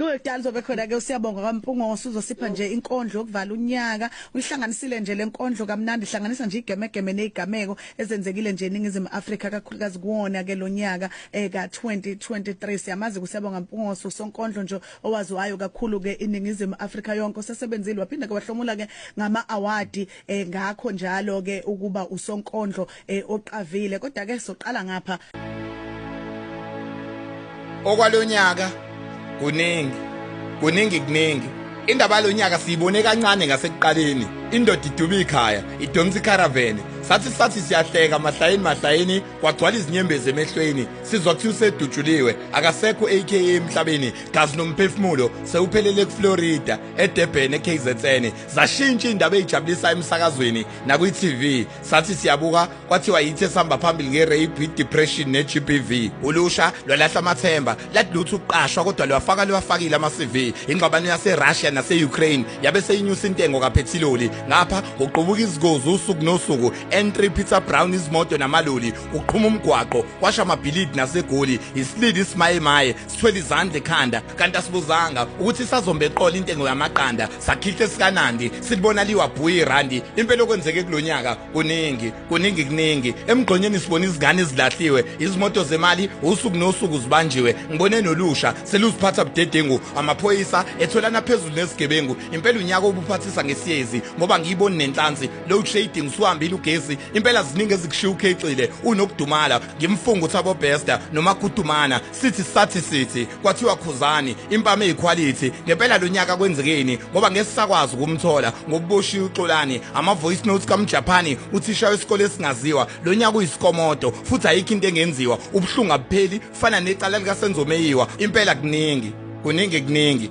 Kudali zobe khona ke usiyabonga kaMpungoso uzosipha nje inkondlo yokuvala unyaka uyihlanganisile nje lenkondlo kamnandi hlanganisa nje igemegeme nezigameko ezenzekile nje eningizimu Afrika kakhulukazi kuwona ke lonyaka eka eh, 2023 siyamazi kusiyabonga Mpungoso usonkondlo nje owaziwayo kakhulu ke iningizimu Afrika yonke sesebenzile waphinda ke wahlomula ke ngama award eh, ngakho njalo ke ukuba usonkondlo eh, oqavile kodwa ke soqala ngapha okwalonyaka kuningi kuningi kuningi indaba yalonyaka siyibone kancane ngasekuqaleni indoda iduba ikhaya idonsa ikharavene sathi sathi siyahleka mahlayeni mahlayeni kwagcwala izinyembezi emehlweni sizwa kuthiwa usedutshuliwe akasekho aka emhlabeni gazi nomphefumulo sewuphelele kuflorida edebheni ekhzn zashintsha iy'ndaba ey'jabulisa emsakazweni nakwi-tv sathi siyabuka kwathiwa yithi esihamba phambili nge-rape i-depression ne-g b v ulusha lwalahla amathemba ladlutha ukuqashwa kodwa lwafaka liwafakile ama-cv ingxabano yaserussia nase-ukraine yabe seyinyusa intengo kaphethiloli ngapha uqubuka izigozi usuku nosuku n3 peter brown izimoto namaloli uqhuma umgwaqo kwasha amabhilidi nasegoli isilili isimayemaye sithwele izandla ekhanda kanti asibuzanga ukuthi isazombe eqola intengo yamaqanda sakhihla esikanandi silibona liwabhuyi irandi impela okwenzeke kulonyaka kuningi kuningi kuningi emgqonyeni sibona izingane ezilahliwe izimoto zemali usuku nosuku zibanjiwe ngibone nolusha seluziphatha budedengu amaphoyisa etholana phezulu nezigebengu impela unyaka obuphathisa ngesiyezi ngoba ngiyiboni nenhlansi load shading usuhambile ugesi impela ziningi ezikushiya ukhexile unokudumala ngimfunga uthabo bester noma kutumana sithi sathi sithi kwathiwa khuzani impama eyiquality ngempela lonyaka kwenzekeni ngoba ngesisakwazi ukumthola ngokuboshiya uxolani ama voice notes kamjapani uthisha wesikole esingaziwa lonyaka uyisikomodo futhi ayikho into engenziwa ubuhlungu abupheli fana necala likasenzomeyiwa impela kuningi kuningi kuningi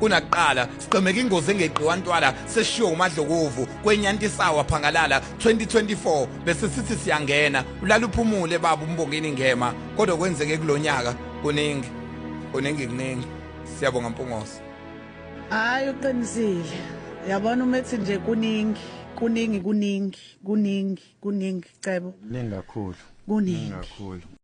kunakuqala sigqemeka ingozi engeqiwa ntwala seshiwo umadlokovu kwenyantisawa phangalala 2024 bese sithi siyangena ulala uphumule baba umbongeni ngema kodwa kwenzeke kulonyaka kuningi kuningi kuningi siyabonga mpungoso hayi uqinisile yabona uma ethi nje kuningi kuningi kuningi kuningi kuningi cebo kuningi kakhulu kuningi kakhulu